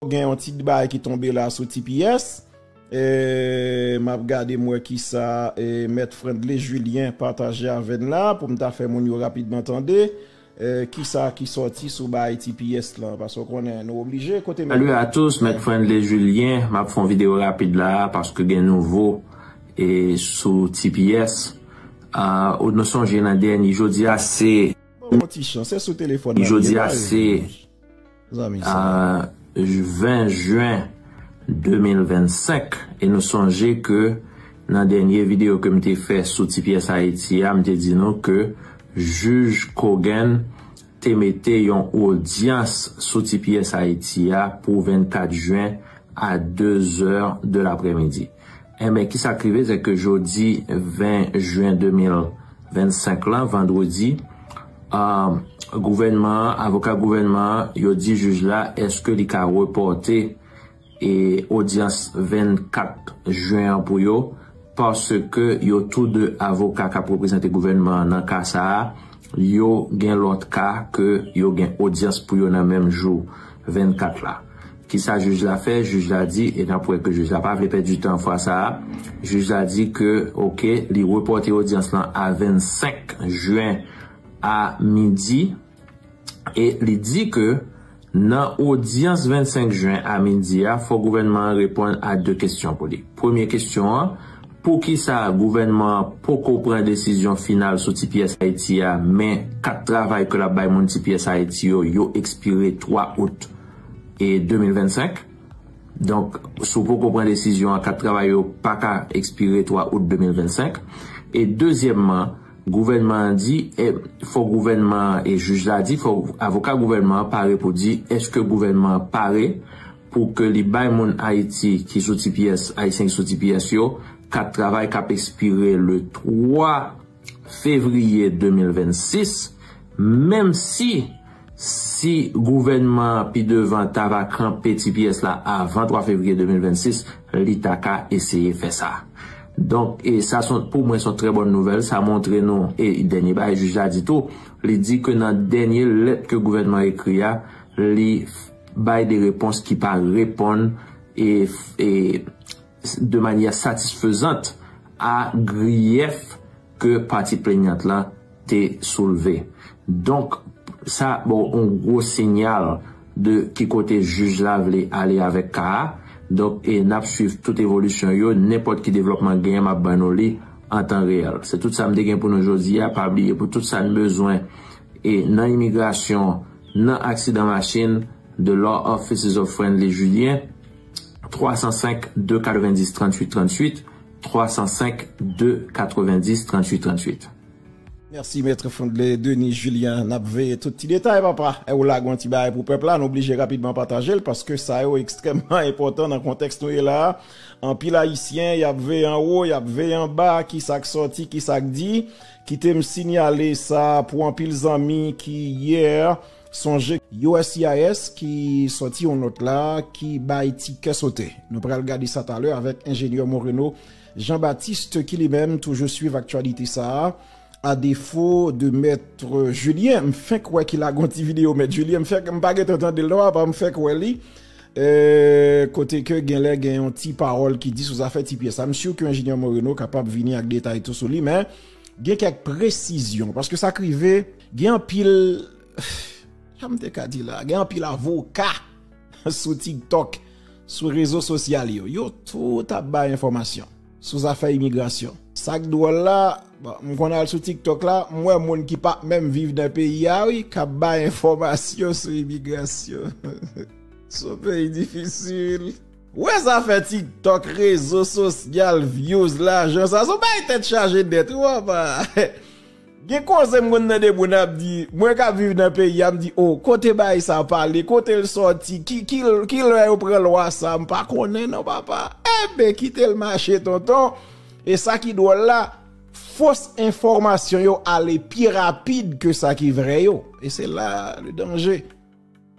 Gen yon ti kbay ki tonbe la sou tps eeh map gade m wè kisa mèt Frendly Julien pataje avè n la pou m ta fè moun yo rapidman tande kisa ki sòti sou baay tps lan paske w konnen nou oblije kote mèt. Salut à tous, Mèt Frendly Julien, map fon video rapid la a paske gen nouvo e sou tps ahh ou nou sonje nan dèni jodi a se. Bon ti chan se sou telefòn nap ye la e. 20 juin 2025 e nou sonje ke nan dènye video ke m te fè sou ti pyès Ayiti a m te di nou ke jij Cogan te mete yon odyans sou ti pyès Ayiti a pou 24 juin a 2 zè de laprèmidi. Enben, ki sa k rive, se ke jodi 20 jen 2025 la, vandredi, gouvènman an, avoka gouvènman an, yo di jij la eske li ka repòte odyans 24 jen an pou yo, paske yo tou de avoka k ap reprezante gouvènman an nan ka sa a, yo gen lòt ka ke yo gen odyans pou yo nan menm jou 24 la. Kisa jij la fè? Jij la di, e nap wè ke jij la pa vle pèdi tan fwa sa a, jij la di ke ok li repòte odyans lan a 25 jen a midi e li di ke nan odyans 25 jen a midi a fò gouvènman an reponn a 2 kesyon pou li. Premye kesyon an, poukisa gouvènman an poko pran desizyon final sou tps Ayiti a men kat travay ke lap bay moun tps Ayiti yo, yo ekspire 3 out. e 2025. Donk, si w poko pran desizyon an, kat travay yo pa ka ekspire 3 out 2025. E dezyèmman, gouvènman an di, e fò gouvènman an e jij la di, fò avoka gouvènman an pare pou di eske gouvènman an pare pou ke li bay moun Ayiti ki sou tps, Ayisyen ki sou tps yo, kat travay k ap ekspire le 3. fevriye 2026, menm si si gouvènman an pi devan ta va kanpe tps la avan 3 fevriye 2026, li ta ka eseye fè sa. Donk, sa son pou mwen son trè bòn nouvèl, sa montre nou e dènye bagay jij la di tou, li di ke nan dènye lèt ke gouvènman an ekri a, li bay de repons ki pa reponn e. de manyè satisfezant a griyèf ke pati plenyant la te soulve. Donk, sa ba w yon gwo sinyal de ki kote jij la vle ale avèk ka a. Donk, e n ap swiv tout evolisyon yo, nenpòt ki devlòpman genyen m ap ban nou li an tan reyèl. Se tout sa m te gen pou nou jodi a. Pa bliye pou tout sa n bezwen e nan imigrasyon, nan aksidan machin, The Law Offices of Friendly Julien. 305 290 38 38 305 290 38 38. Merci Maître Fondley Denis Julian nap veye tout ti detay papa è ou lague yon ti bagay pou pèp la nou blije rapidman patajel paske sa yo ekstrèmman enpòtan nan kontèks nou ye la a anpil ayisyen yap veye anwo yap veye anba kisak sòti kisak di kitem sinyale sa pou anpil zanmi ki yè Sonje uscis ki sòti yon nòt la ki bay ti kè sote. Nou pral gade sa talè avèk enjenyè Moreno Jean Baptiste ki li menm toujou swiv aktyalite sa a. A defo de Maitre Julien, m fenk wè ki lage yon ti videyo Maitre Julien, m fenk, m pa gentan tande l non apa m fenk wè li, kote ke genlè gen yon ti pawòl ki di sou zafè ti pyès sa. M sur ke enjenyè Moreno kapab vini ak detay tou sou li men. Gen kèk presizyon, paske sa k rive, gen anpil, sa m te ka di la, gen anpil avoka sou TikTok, sou rezo sosyal yo, yo tout ap bay enfòmasyon sou zafè imigrasyon. Sa k dwòl la, bon, m konn al sou TikTok la, m wè moun ki pa menm viv nan peyi a wi, k ap bay enfòmasyon sou imigrasyon. Son peyi difisil. Wè zafè tiktok rezo sosyal vyouz lajan sa son bay tèt chaje nèt wi papa gen koze m konn tande moun ap di mwen kap viv nan peyi a m di oh kote bay sa pale kote l sòti ki lè yo pran lwa sa m pa konnen non papa enben kite l mache tonton e sa ki dwòl la fos enfòmasyon yo ale pi rapid ke sa ki vrè yo e se la le danje.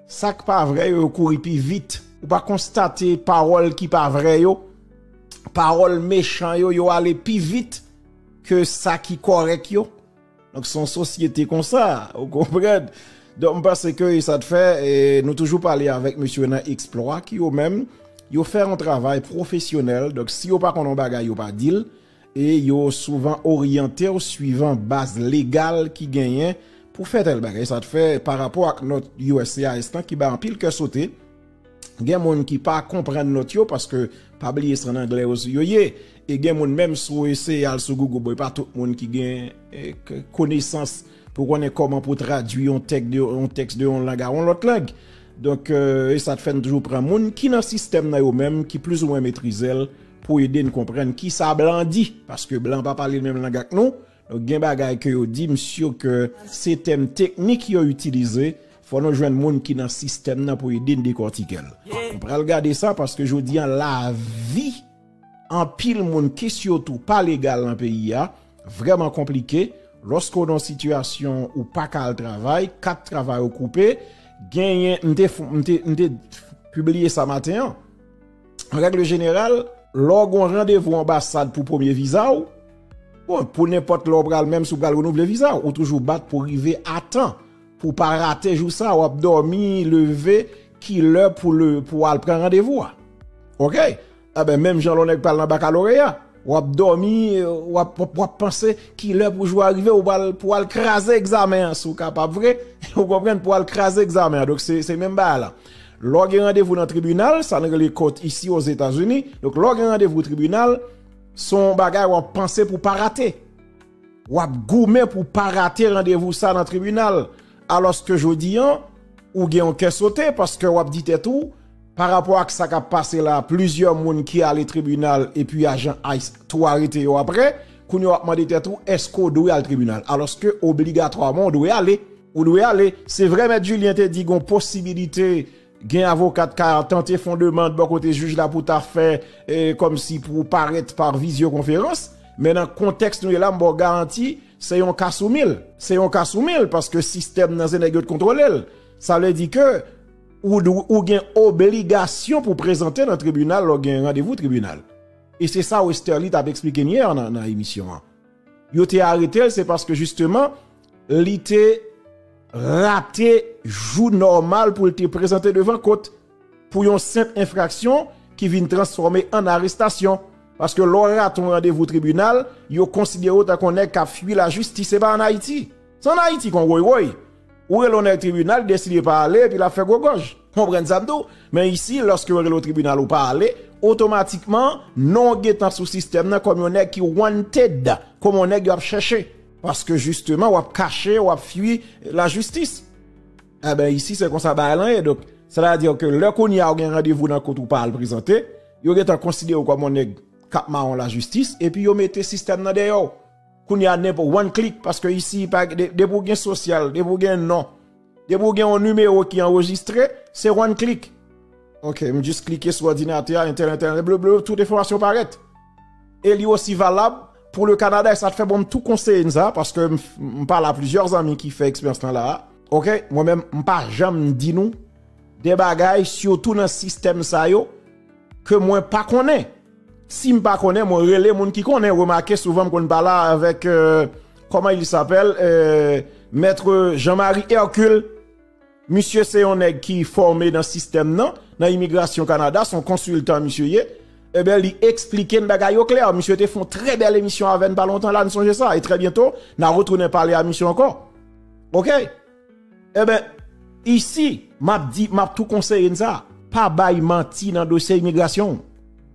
Sak pa vrè yo yo kouri pi vit ou pa konstate pawòl ki pa vrè yo pawòl mechan yo yo ale pi vit ke sa ki kòrèk yo donk son sosyete konsa ou konprann donk m panse ke sa t fè nou toujou pale avèk mesye nan eksplwa ki yo menm yo fè yon travay pwofesyonèl donk si yo pa konn yon bagay yo pa dil e yo souvan oryante w suivan baz legal ki genyen pou fè tèl bagay. Sa fè, pa rapò ak nòt uscis lan ki bay anpil kè sote, gen moun ki pa konprann nòt yo paske, pa bliye se ann anglè yo ye, e gen moun menm si w eseye al sou Google, bon e pa tout moun ki gen konesans pou konnen kòman pou tradui yon tèks de yon lang a yon lòt lang. Donk, e sa fè n toujou pran moun ki nan sistèm nan yo menm ki plizoumwen metrize l. pou ede n konprann kisa blan di paske blan pa pale menm lang ak nou donk gen bagay ke yo di m sur ke se tèm teknik yo itilize fò nou jwenn moun ki nan sistèm nan pou ede n dekòtike l nou pral gade sa paske jodi an lavi anpil moun ki sitou pa legal nan peyi a vrèman konplike lòske w nan sitiyasyon ou pa ka al travay kat travay ou koupe genyen m te m te pibliye sa maten an. An règle jeneral, lè w gen yon randevou anbasad pou premye viza w, bon, pou nenpòt lè w pral, menm si w pral renouvle viza w, ou toujou bat pou rive a tan, pou w pa rate jou sa a, w ap dòmi, leve, ki lè pou w al pran randevou a. Ok? Enben, menm jan lè yon nèg pral nan bakaloreya. Wap domi wap wap panse kilè pou jou a rive ou pral pou al kraze egzamen an si w kapab vre ou konprann pou al kraze egzamen an donk se menm bagay la lè w gen randevou nan tribinal sa nou rele court isi o Zetazini donk lè w gen randevou tribinal son bagay wap panse pou pa rate. W ap goumen pou w pa rate randevou sa nan tribinal, alòske jodi an, ou gen yon kè sote paske w ap di tèt ou, pa rapò ak sa k ap pase la, plizyè moun ki ale tribinal epi ajan ice tou arete yo aprè, kounye a w ap mande tèt ou èske w dwe al tribinal, alòske obligatwaman w dwe ale. Ou dwe ale. Se vre mèt Julien te di gen yon posibilite. Gen avoka t ka tante fon demand bò kote jij la pou ta fè kòm si pou parèt pa vizyokonferans, men nan kontèks nou ye la m ba w garanti se yon ka sou mil. Se yon ka sou mil paske sistèm nan se nèg yo t kontwole l. Sa vle di ke ou gen obligasyon pou prezante nan tribinal lè w gen randevou tribinal. E se sa Westerlie t ap esplike m yè nan emisyon an. Yo te arete l se paske jisteman Li te rate jou nòmal pou l te prezante devan kot pou yon senp enfraksyon ki vin transfòme an arestasyon. Paske lè w rate yon randevou tribinal, yo konsidere w tankou yon nèg k ap fui lajistis. Se pa an Ayiti. Se an Ayiti kon woy woy. Ou rele yon nèg tribinal, li deside pa ale epi l ap fè gwo gòj. Konprann sa m di w. Men isi, lòske yo rele w tribinal ou pa ale, otomatikman non w gentan sou sistèm nan kòm yon nèg ki wanted, kòm yon nèg y ap chèche. Paske jisteman wap kache, wap fui la jistis. Eben isi se konsa bagay lan ye. Donk, sè ta di ke lè kounye a ou gen randevou nan kot ou pa al prezante, yo gentan konsidere ou kòm yon nèg kap mawon la jistis, epi yo mete sistèm nan dèyè w. Kounye a nenpò one click, paske isi pa gen, depi ou gen sosyal, depi ou gen non. Depi ou gen yon numéro ki anrejistre, se one click. Ok, m jis klike sou òdinatè a, entènèt, entènèt, blablabla, tout enfòmasyon parèt. E li osi valab pou le Canada. E sa fè bon m tou konseye n sa, paske m pale a plizyè zanmi ki fè eksperyans lan la a. Ok, mwen menm m pa janm di nou de bagay sitou nan sistèm sa yo ke mwen pa konnen. Sim pa konnen mwen rele moun ki konnen remake souvan m konn pala avek koman il sapel maitre Jean Marie Hercule misye se yon neg ki fome nan sistem nan nan imigrasyon Canada son konsiltan misye ye eben li esplike n bagay yo kler misye te fon tre bel emisyon ave n pa lontan la n sonje sa e tre byento na retounen pale a misye anko ok. Enben, isi, m ap di, m ap tou konseye n sa, pa bay manti nan dosye imigrasyon w.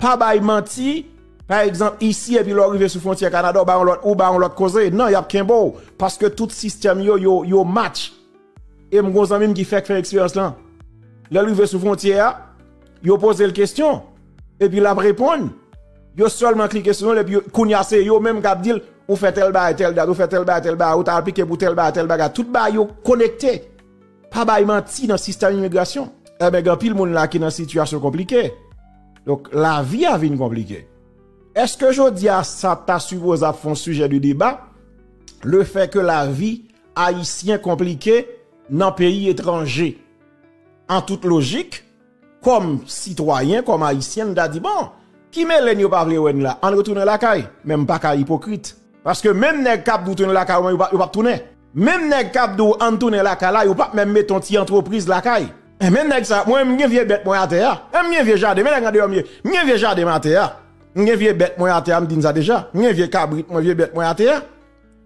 Pa bay manti, pa egzanp, isi epi lè w rive sou fwontyè Kanada ou bay yon lòt, ou bay yon lòt koze. Non, y ap kenbe w, paske tout sistèm yo, yo match. E m gen yon zanmi m ki fèk fè eksperyans lan. Lè l rive sou fwontyè a, yo poze l kesyon, epi l ap reponn. Yo sèlman klike sou yon l epi yo kounye a se yo menm k ap di l ou fè tèl bagay tèl dat ou fè tèl bagay tèl bagay ou ta aplike pou tèl bagay tèl bagay tout bagay yo konekte pa bay manti nan sistèm imigrasyon enben gen anpil moun la ki nan sitiyasyon konplike donk lavi a vin konplike èske jodi a sa ta sipoze ap fè yon sijè de deba le fè ke lavi ayisyen konplike nan peyi etranje an tout lojik Kòm sitwayen, kòm Ayisyen, m ta di bon, ki mele n yo pa vle wè n la, ann retounen lakay. Men m pa ka ipokrit. Paske menm nèg k ap di w tounen lakay ou an yo p ap tounen. Menm nèg k ap di w ann tounen lakay la, yo p ap menm mete yon ti antrepriz lakay. Men nèg sa, mwen menm m gen vye bèt mwen atè a. Menm m gen vye jaden, men nèg andeyò m ye. M gen vye jaden m atè a. M gen vye bèt mwen atè a, m di n sa deja. M gen vye kabrit mwen, vye bèt mwen atè a.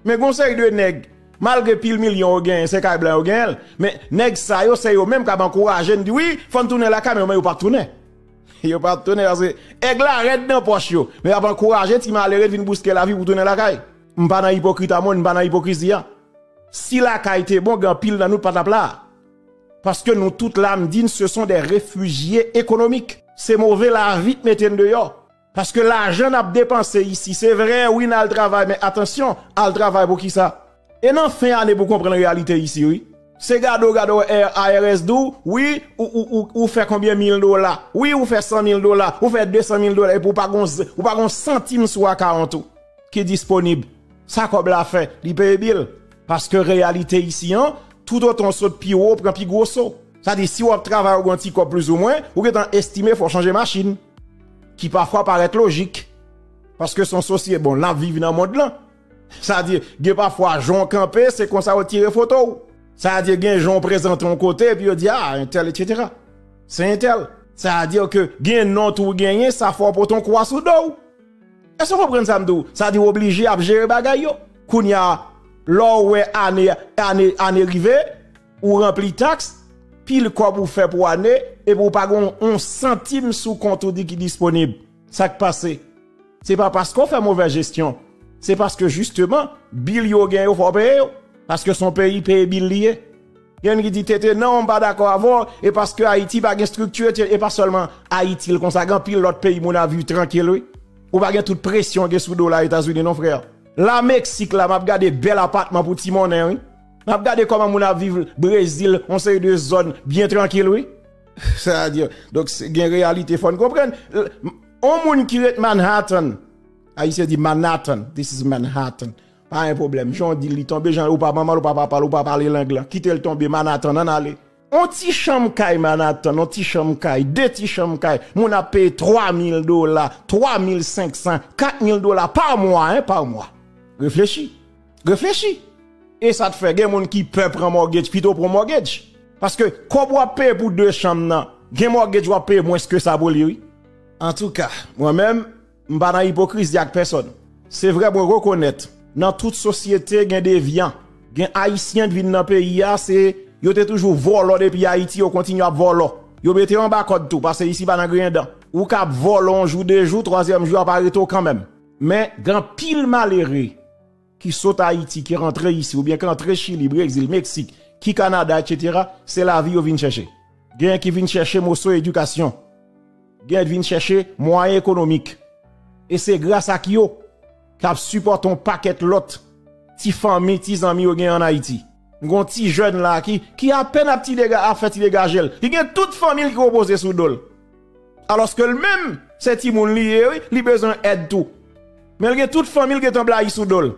Men gon seri de nèg, malgre pil milyon yo genyen se kay blan yo genyenl, men nèg sa yo se yo menm kap ankouraje n di wi fòn tounen lakay men yo menm yo pap tounen. Yo pap tounen paske èg la rèd nan pòch yo, men yap ankouraje ti malere vin bouske lavi pou tounen lakay. M pa nan ipokrit a mwen, m pa nan ipokrizi a. Si lakay te bon gen anpil nan nou pat ap la. Paske nou tout la m di n se son de refijye ekonomik. Se move lavi k mete n deyò. Paske lajan nap depanse isi se vre wi nal travay men atansyon al travay pou kisa? E nan fen ane pou konprann reyalite isi wi. Se gade w gade w IRS di w wi ou fè konbyen mil dola wi ou fè 100 mil dola ou fè 200 mil dola epi w pa gon ou pa gon santim sou akawont ou ki disponib. Sa kòb la fè? Li peye bil. Paske reyalite isi an tout otan w sot pi wo pran pi gwo so. Sa di si wap travay ou gon ti kòb plizoumwen ou gentan estime fò w chanje machin. ki pafwa parèt lojik, paske son sosye bon lap viv nan mond lan, sa di gen pafwa jan w kanpe se konsa yo tire foto w, sa di gen jan w prezante yon kote epi yo di a entèl etsetera se entèl. Sa di ke gen non tou genyen sa fè w pote yon kwa sou do w. Èske w konprann sa m di w, sa di w oblije ap jere bagay yo. Kounya lè w wè ane rive. ou ranpli taks, pil kòb ou fè pou ane, epi ou pa gen yon santim sou kont ou di ki disponib. Sa k pase? Se pa paske ou fè movè jesyon, se paske jisteman bil yo gen yo fò w peye yo, paske s on peyi peye bil li ye. Gen moun ki di TT, non, m pa dakò avè w, e paske Ayiti pa gen estrikti, e pa sèlman Ayiti l konsa, gen anpil lòt peyi moun ap viv trankil wi. Ou pa gen tout presyon gen sou do w la Etazini non frè. La Meksik la m ap gade bèl apatman pou ti monnen wi. Map gade koman moun ap viv brezil yon seri de zòn byen trankil wi. Sa a di donk gen reyalite fòn konprann yon moun ki ret Manhattan ayisyen di Manhattan this is Manhattan pa gen pwoblèm jan w di li tonbe jan ou pa manman l ou pa papa l ou pa pale lang lan kite l tonbe Manhattan ann ale. On ti chanm kay Manhattan, on ti chanm kay, de ti chanm kay, moun ap peye 3 mil dola, 3 mil 500, 4 mil dola pa mwa, en, pa mwa. Reflechi. Reflechi. E sa t fè gen moun ki pè pran mortgage pito pran mortgage. Paske kòb wap peye pou 2 chanm nan, gen mortgage wap peye mwens ke sa pou li wi. Antouka, mwen menm. M pa nan ipokrizi ak pèsòn. Se vre mwen rekonèt nan tout sosyete gen devyan. Gen Ayisyen k vin nan peyi a se yo te toujou vòlò depi Ayiti yo kontinye ap vòlò. Yo mete yo anba kòd tou pase isi pa nan griyen dan. Ou ka ap vòlò yon jou, de jou, twazyèm jou y ap arete w kanmenm. Men gen anpil malere. ki sot Ayiti, ki rantre isi, oubyen ki antre Chili, Brezil, Meksik, ki Kanada, etsetera, se lavi yo vin chèche. Genyen ki vin chèche moso edikasyon. Genyen ki vin chèche mwayen ekonomik. E se gras ak yo k ap sipòte yon pakèt lòt ti fanmi, ti zanmi yo genyen an Ayiti. Gon ti jèn la ki ki apèn ap ti dega ap fè ti degajel ki gen tout fanmil ki repoze sou dol aloske l menm se timoun li ye wi li bezwen èd tou men l gen tout fanmil gentan blayi sou dol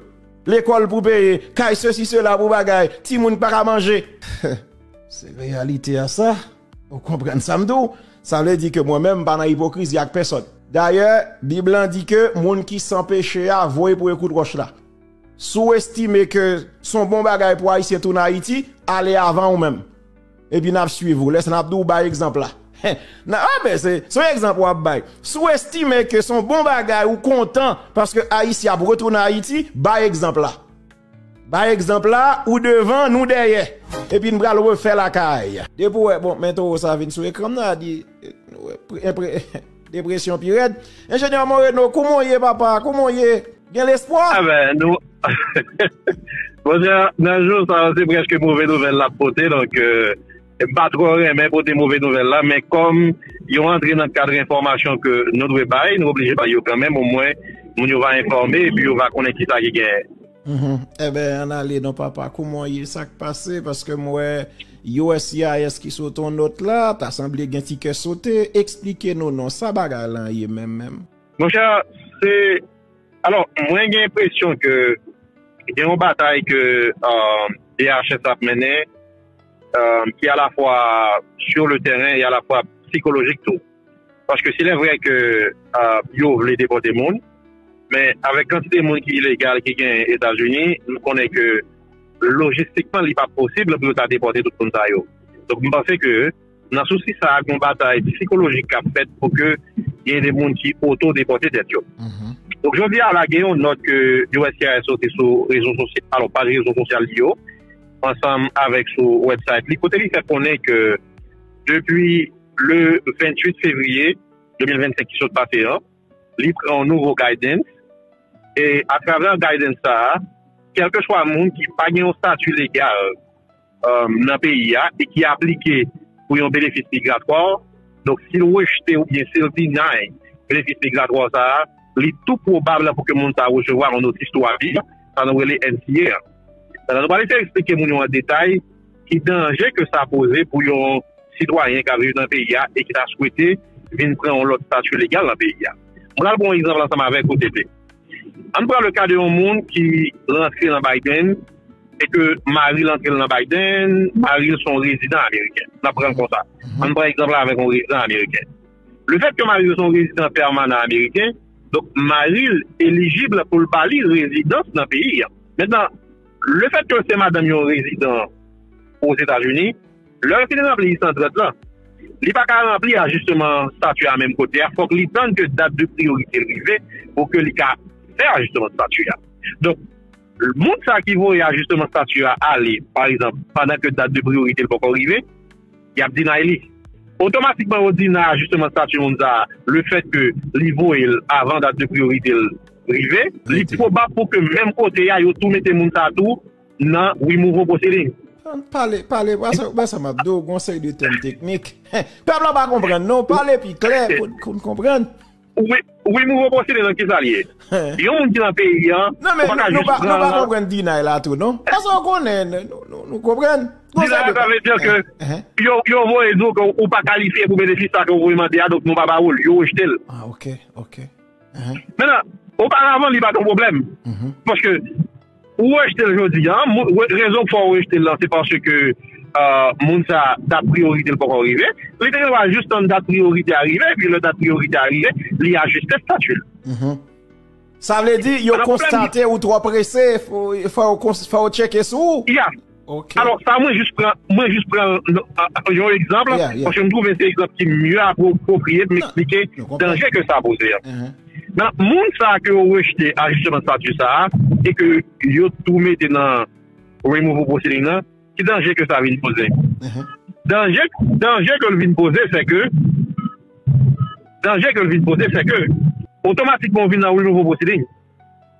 lekòl pou peye kay sesi sela pou bagay timoun ki pa ka manje se reyalite a sa ou konprann sa m di w sa vle di ke mwen menm m pa nan ipokrizi ak pèsòn dayè bib lan di ke moun ki san peche a voye pou yo kout wòch la. Si w estime ke s on bon bagay pou Ayisyen tounen Ayiti, ale avan ou menm. Epi n ap suiv ou. Lè sa n ap di w bay egzanp la. Anben, se yon egzanp w ap bay. Si w estime ke s on bon bagay ou kontan paske Ayisyen ap retounen Ayiti, bay egzanp la. Bay egzanp la, ou devan, nou dèyè. Epi n pral refè lakay. Depi w wè, bon, men towo sa vin sou ekran m nan, a di, Depression pi rèd. Ingénieur Moreno kouman w ye papa? Kouman w ye? Gen lespwa? A ben nou Mon chè nan jou sa yo se prèske move nouvèl lap pote donk m pa twò renmen pote move nouvèl la men kòm yo antre nan kad enfòmasyon ke nou dwe bay nou oblije bay yo kanmenm omwen moun yo va enfòme epi yo va konnen kisa ki genyen. Enben an ale non papa kouman w ye sak pase paske m wè uscis ki sot on nòt la ta sanble gen ti kè sote eksplike nou non sa bagay lan ye menm menm. Monchè se alò mwen gen enpresyon ke gen on batay ke DHS ap mennen ki alafwa sur le tèren e alafwa psikolojik tou. Paske si lè vrè ke yo vle depòte moun, men avèk kantite moun ki ilegal ki gen Etazini, nou konnen ke lojistikman li pap posib pou yo ta depòte tout moun sa yo. Donk m panse ke nan sousi sa a gon batay psikolojik kap fèt pou ke gen de moun ki oto depòte tèt yo. Donk jodi a la gen yon nòt ke uscis soti sou rezo sosyal, alon paj rezo sosyal li yo, ansanm avèk sou wèbsayt li kote li fè konnen ke depi. Le 28 fevriye 2025 ki sot pase an, li pran yon nouvo guidance e atravè guidance sa a, kèlkeswa moun ki pa gen yon stati legal nan peyi a e ki aplike pou yon benefis migratwa, donk si l rejte oubyen si l deny benefis migratwa sa a, li tou pwobab pou ke moun sa a resevwa yon notis tou avi, sa nou rele NTA. Pandan nou pale se eksplike moun yo an detay Ki danje ke sa poze pou yon sitwayen kap viv nan peyi a e ki ta swete vin pran yon lòt stati legal nan peyi a? M pral pran yon egzanp ansanm avèk ou TT. Ann pran le ka de yon moun ki rantre nan Biden e ke mari l antre l nan Biden, mari l se yon rezidan ameriken. N ap pran l konsa. Ann pran egzanp la avèk yon rezidan ameriken. Le fèt ke mari l se yon rezidan pèmanan ameriken, donk mari l elijib pou l ba li rezidans nan peyi a. Mentnan. Le fèt ke w se madanm yon rezidan Ozetazini, lè l fin ranpli 130 lan, li pa ka ranpli ajisteman stati a menm kote a, fòk li tann ke dat de priyorite l rive pou ke li ka fè ajisteman stati a. Donk, moun sa ki voye ajisteman stati a ale, pa egzanp, pandan ke dat de priyorite l poko rive, Y ap deny li. Otomatikman yo deny ajisteman stati moun sa a lefètke li voye l avan dat de priyorite l rive. Li pwobab pou ke menm kote a yo tou mete moun sa a tou nan removal proceeding. An pale, pale, wè sa m ap di w, gen yon seri de tèm teknik. Pèp la pa konprann non, pale pi klè pou n konprann. Wi mouvo pwosede lan kisa li ye? Yon moun ki lan peyi an ou pa ka jis pran. Non pa konprann deny la tou non. Paske ou konnen nou konprann. Deny la sa vle di ke yo voye di w ke ou pa kalifye pou benefis sa ke ou voye mande a donk nou pa ba ou l, yo rejte l. Ah ok ok. Menan oparavan li pa t yon pwoblèm paske. Ou rejte l jodi a, rezon k fè w rejte l lan se paske moun sa dat priyorite l poko rive, li te gen dwa jis tann dat priyorite a rive epi lè dat priyorite a rive li ajiste stati l. Sa vle di yo konstate ou twò prese fò yo tcheke sou ou? Ok. Alò sa mwen jis pran, mwen jis pran yon egzanp, paske m twouve se egzanp ki mye apwopriye pou m eksplike danje ke sa poze a. Nan moun sa ke yo rejte a jisteman stati sa a, e ke yo tou mete nan removal proceeding nan, ki danje ke sa vin poze? Danje, danje ke l vin poze se ke, danje ke l vin poze se ke, otomatikman ou vin nan removal proceeding.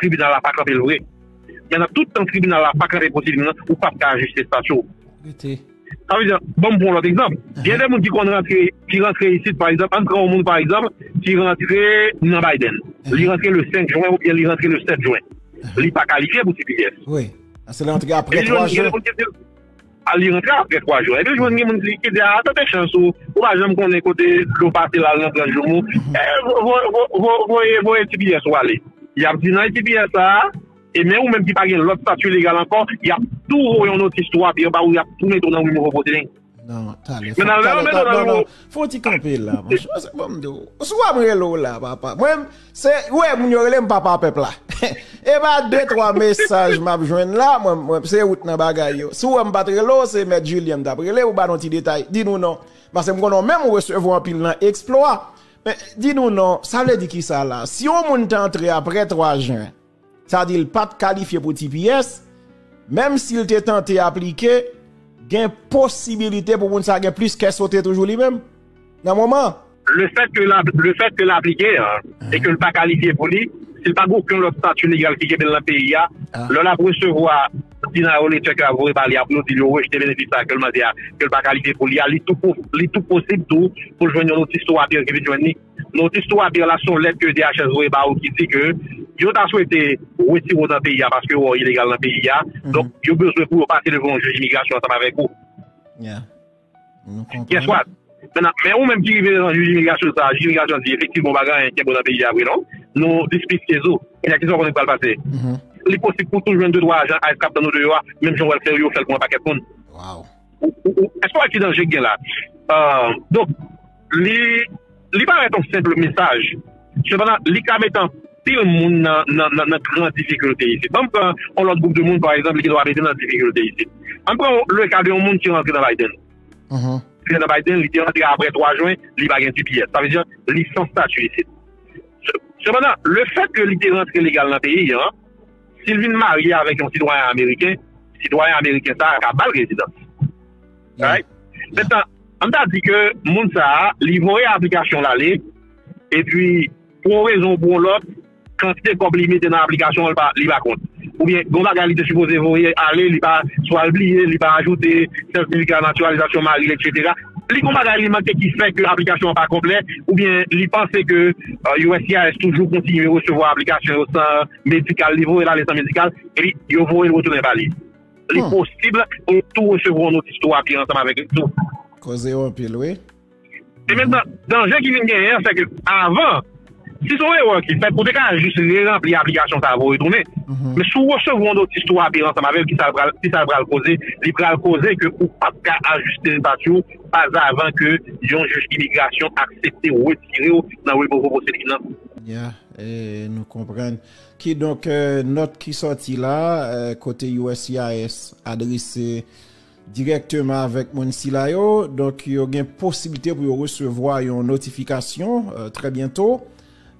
Tribinal la pa kanpe l vre. Men nan tout tan tribinal la pa kanpe pou ti vin lan, ou pap ka ajiste estati w. Rete. Sa vle di, ban m pran yon lòt egzanp. Gen de moun ki konn rantre, ki rantre isit pa egzanp, an n pran yon moun pa egzanp ki rantre nan Biden. Li rantre le 5 jwen oubyen li rantre le 7 jwen. Li pa kalifye pou tps. Wi. Paske li rantre apre 3 jwen. A li rantre apre 3 jou. Epi jwenn gen moun ki di a tante chans ou, ou pa janm konnen kote dlo pase lal nan 30 jou mou. Voye voye tps ou ale. Yap di nan tps sa a, e men ou menm ki pa gen lòt statut legal ankò, yap tou voye yon notis tou api anba ou yap tou mete w nan remove proceeding. Nan, tale. Menan lè yo mete w nan remove. Fon ti kanpe la manche. Mwen se banm do. Sou wap rele ou la papa. Mwen se ou e moun yo rele m papa pep la. E ba 2 3 mesaj map jwenn la mwen se ou t nan bagay yo. Si w wè m pat rele w se met Julien m tap rele ou ba nou ti detay. Di nou non. Pase m konnen ou menm ou resevwa anpil nan exploit. Men di nou non. Sa vle di kisa la. Si yon moun t antre apre 3 jen. sa di l pa t kalifye pou tps, menm si l te tante aplike, gen posibilite pou moun sa gen plis kè sote toujou li menm, nan moman. Le fèt ke l aplike a, e ke l pa kalifye pou li, si l pa gen okenn lòt stati legal ki kenbe l nan peyi a, lè l ap resevwa deny ou letter ke yo ap voye ba li a pou yo di l yo rejte benefis sa a ke l mande a, ke l pa kalifye pou li a, li tou posib tou pou l jwenn yon notis tou apèl ki vin jwenn li. Notis 3 pi ala son lèt ke DHS voye ba ou ki di ke yo ta swete wetire ou nan peyi a paske ou ilegal nan peyi a. Donk, yo bezwen pou yo pase devan yon jij imigrasyon ansanm avèk ou. Ya. Nou konprann. Guess what? Mètnan, men ou menm ki rive devan jij imigrasyon sa a, jij imigrasyon an di efektivman ou pa gen anyen kenbe ou nan peyi a vre non. Nou dispistez ou. Kounya kisa ou konnen ki pral pase? Li posib pou w tou jwenn de twa ajan ice k ap tann ou deyò a, menm jan ou wè l fè yo, yo fè l pou yon pakèt moun. Waww. Èske w wè ki danje ki gen la? Donk, li parèt yon senpl mesaj, sepandan, li ka mete anpil moun nan gran difikilte isit. Banm pran yon lòt gwoup de moun, pa egzanp, li gen dwa mete nan difikilte isit. Ann pran le ka de yon moun ki rantre nan Biden. Li te nan Biden, li te rantre apre 3 jen, li pa gen tps. Sa vle di, li san stati isit. Sepandan, le fèt ke li te rantre legal nan peyi an, Si l vin marye avèk yon sitwayen ameriken, sitwayen ameriken sa a ka ba l rezidans. Right? Mentnan, an n ta di ke moun sa a, li voye aplikasyon l ale, epi pou yon rezon ou pou yon lòt, kantite kòb li mete nan aplikasyon an, li pa kont. Oubyen gen yon bagay li te sipoze voye ale, li pa, swa l bliye, li pa ajoute, sètifika natiralizasyon mari l, etsetera. Li gen yon bagay li manke ki fè ke aplikasyon an pa konplè, oubyen li panse ke uscis toujou kontinye resevwa aplikasyon yo san. medikal, li voye l ale san medikal, epi yo voye l retounen ba li. Li posib pou l tou resevwa yon notis tou api ansanm avèk li tou. Koze yo anpil wi. E menm nan, danje ki vin genyen an, se ke avan, si se yon erè ki fèt, ou te ka jis re-ranpli aplikasyon sa a pou retounen. Men si w resevwa yon notis tou api ansanm avè l, ki sa l pral koze? Li pral koze ke ou pap ka ajiste estati w pazavan ke yon jij imigrasyon aksepte retire w nan Revoke Proceeding nan. Nou konprann. Kidonk, nòt ki sòti la, kote uscis adrese dirèkteman avèk moun sila yo, donk yo gen posiblite pou yo resevwa yon notifikasyon trè byento.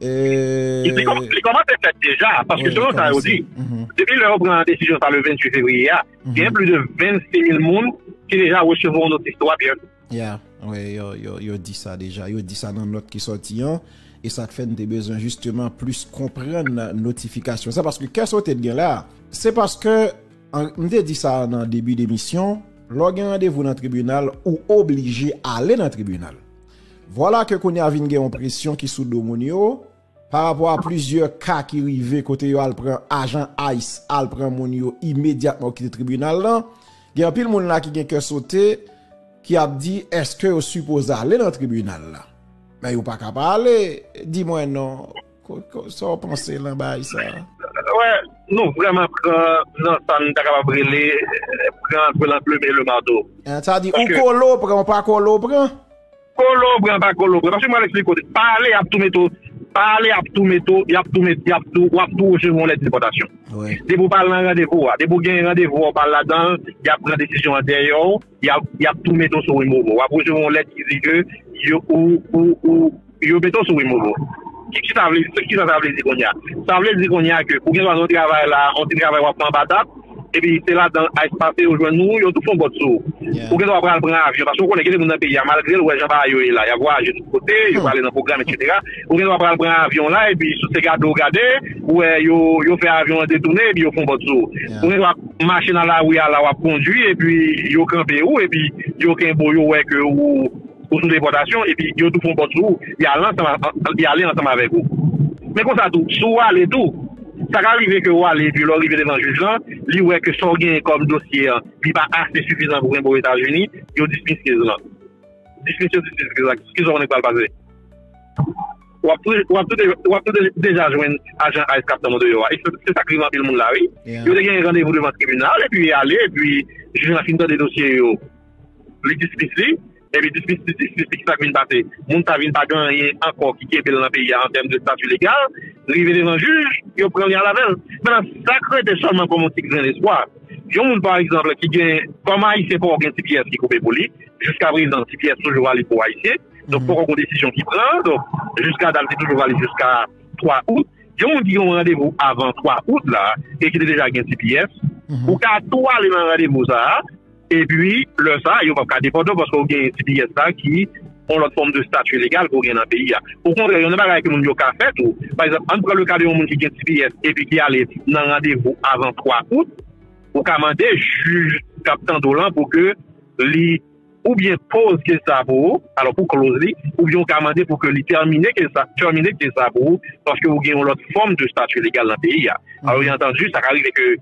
Li kòmanse fèt deja, paske selon sa yo di, depi lè yo pran desizyon sa le 28 fevriye a, gen plis de 26 mil moun ki deja resevwa yon notif 3 byento. Ya, wè yo di sa deja, yo di sa nan nòt ki sòti an, e sa k fè n te bezwen jisteman plis konprann notifikasyon sa, paske kè sote t gen la, se paske m te di sa nan debi demisyon, lè w gen randevou nan tribinal ou oblije ale nan tribinal. Vwala ke kounye a vin gen yon presyon ki sou do moun yo. Pa rapò a plizyè ka ki rive kote yo al pran ajan ice al pran moun yo imedyatman yo kite tribinal lan, gen anpil moun la ki gen kè sote ki ap di eske yo sipoze ale nan tribinal la. Men yo pa ka pa ale, di mwen non, sa w panse lan bay sa a? Wè, nou vreman pran nan sa n ta kapab rele pran antre lan plume e le marteau. Sa di ou kole ou pran ou pa kole ou pran? Kolobran pa kolobran paske mwen al esplike w pa ale yap tou mete w pa ale yap tou mete w yap tou mete yap tou wap tou resevwa yon lèt depòtasyon depi w pa al nan randevou w a depi w gen randevou w a w pa al ladan l yap pran desizyon an dèyè w yap tou mete w sou removo wap resevwa yon lèt ki di ke yo ou ou ou yo mete w sou removo kiki sa vle kisa sa vle di kounye a sa vle di kounye a ke ou gen dwa nan yon travay la yon ti travay wap fè anba tab epi se ladan ice pase yo jwenn ou, yo tou fon bòt sou ou. Ou gendwa pral pran avyon, paske ou konnen gen de moun nan peyi a, malgre l wè jan bagay yo ye la, y ap vwayaje tout kote, yo prale nan pwogram etsetera, ou gendwa pral pran avyon la, epi sou se gade ou gade, ou wè yo fè avyon an detounen, epi yo fon bòt sou ou. Ou gendwa mache nan lari a la, w ap kondui, epi yo kanpe ou, epi yo kenbe ou, yo wè ke ou. Ou sou depòtasyon epi yo tou fon pòt sou ou, y ale ansanm avèk ou. Men konsa tou, si w ale tou, sa ka rive ke w ale epi lè w rive devan jij lan, li wè ke sa w genyen kòm dosye an, li pa ase sifizan pou kenbe w Etazini, yo dismiss case lan. Dismiss yo dismiss case la, kisa w konnen ki pral pase? W ap toujou deja jwenn ajan ice k ap tann ou deyò a. E se sa k rive anpil moun la wi. Yo te genyen randevou devan tribinal epi y ale epi jij lan fin tande dosye yo. Li dispis li, epi dispis li dispis li, ki sa k vin pase? Moun sa vin pa gen anyen ankò ki kenbe l nan peyi a an tèm de stati legal, li rive devan jij, yo pran li al avè l. Mennan, sa k rete sèlman kòm yon ti grenn espwa, yon moun pa egzanp ki gen, kòm Ayisyen poko gen ti pyès ki koupe pou li, jiska prezan ti pyès toujou valib pou Ayisyen, donk poko gen yon desizyon ki pran, donk jiska dat li toujou valib jiska 3 out. Yon moun ki gen yon randevou avan 3 out la e ki te deja gen ti pyès, ou ka tou ale nan randevou sa a, Epi, lè sa a, yo pap ka depòte w paske ou gen tps la ki yon lòt fòm de stati legal ke w gen nan peyi a. Okontrè, yon nan bagay ke moun yo ka fè tou, pa egzanp, ann pran le ka de yon moun ki gen tps epi ki ale nan randevou avan 3 out, ou ka mande jij k ap tande w lan pou ke li oubyen poze ke sa pou ou, alò pou kloz li, oubyen ou ka mande pou ke li tèmine ke sa, terminate ke sa pou ou, paske ou gen yon lòt fòm de stati legal nan peyi a. Alò, byenantandi, sa ka rive ke.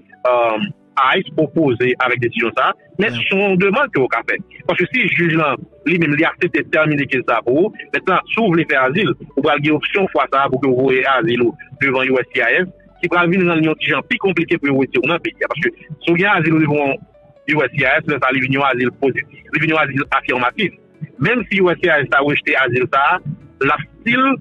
Ice opoze avèk desizyon sa a, men son yon demand ke ou ka fè. Paske si jij lan li menm li aksepte tèmine kes sa a pou ou, mentnan si ou vle fè azil, ou pral gen opsyon fwa sa a pou ke ou voye azil ou devan uscis ki pral vin rann li yon ti jan pi konplike pou yo wete ou nan peyi a. Paske si ou gen azil ou devan uscis, lè sa a li vin yon azil pozitif, li vin yon azil afirmatif. Menm si uscis ta rejte azil sa a, l ap stil.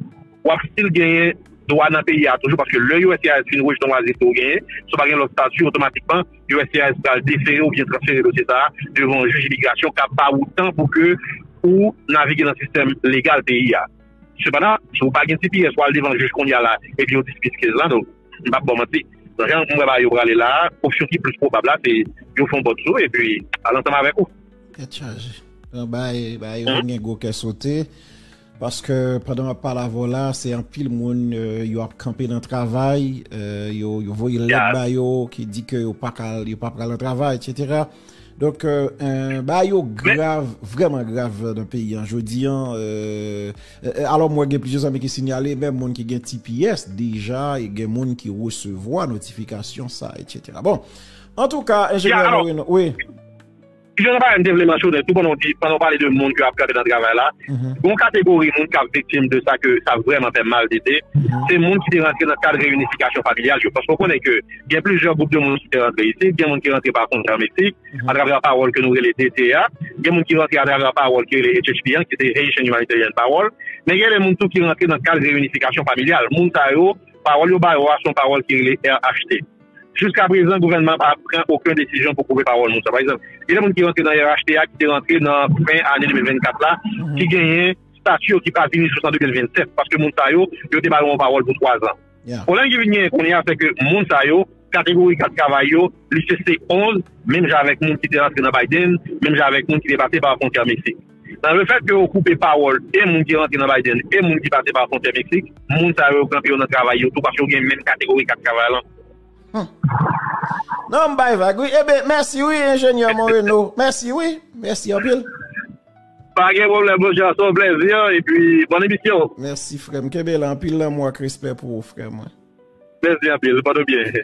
wap stil genyen dwa nan peyi a toujou paske lè uscis fin rejte yon waze ke ou genyen, si ou pa gen lòt stati otomatikman uscis pral defere oubyen transfere dosye sa a devan yon jij imigrasyon kap ba ou tan pou ke ou navige nan sistèm legal peyi a. Sepandan, si ou pa gen tps ou al devan jij kounye a la epi yo dismiss case la donk m pap ba w manti jan m wè bagay yo prale la a opsyon ki plis pwobab la se yo fè yon bòt sou ou epi al ansanm avèk ou. Tèt chaje. Bay bay yo vin gen gwo kè sote. Paske pandan wap pale avè w la se anpil moun yo ap kanpe nan travay, yo voye lèt ba yo ki di ke yo pa pral nan travay etc. Donk bagay yo grav, vrèman grav nan peyi an jodi an. Alò mwen gen plizyè zanmi ki sinyale menm moun ki gen tps deja gen moun ki resevwa notifikasyon sa etc. Bon antouka enjenyè Moreno. Ki jan bagay m te vle mansyone tou pandan w di, pandan w pale de moun ke ap kanpe nan travay la, gon kategori moun kap viktim de sa ke sa vrèman fè mal de de, se moun ki te rantre nan kad reyinifikasyon familyal yo. Paske w konnen ke gen plizyè gwoup de moun ki te rantre isit, gen moun ki rantre pa fwontyè an Meksik, atravè pawòl ke nou rele DT a, gen moun ki rantre atravè pawòl ki rele HHP an, ki se Haitian Humanitarian Parole, men gen de moun tou ki rantre nan kad reyinifikasyon familyal. Moun sa yo, pawòl yo ba yo a, se yon pawòl ki rele RHT. Jiska prezan gouvènman an pa pran oken desizyon pou pwouve pawòl nou sa. Pa egzanp, genyen moun ki rantre nan RHT a ki te rantre nan fen ane 2024 la ki genyen stati yo ki pa vini jous an 2027 paske moun sa yo, yo te ba yo yon pawòl pou twazan. Pwoblèm ki vin genyen kounye a se ke moun sa yo, kategori kat travay yo, li se C11, menm jan avèk moun ki te rantre nan Biden, menm jan avèk moun ki te pase pa fwontyè Meksik. Nan le fèt ke yo koupe pawòl e moun ki rantre nan Biden e moun ki pase pa fontyè Meksik, moun sa yo kanpe yo nan travay yo tou paske yo gen menm kategori kat travay lan. Hum. Non m bay vag wi. Eben mèsi wi Enjenyè Moreno. Mèsi wi. Mèsi anpil. Pa gen pwoblèm monchè, se yon plèzi epi bòn emisyon. Mèsi frè m. Kenbe la anpil lanmou ak respè pou ou frè mwen. Mèsi anpil. Pote w byen.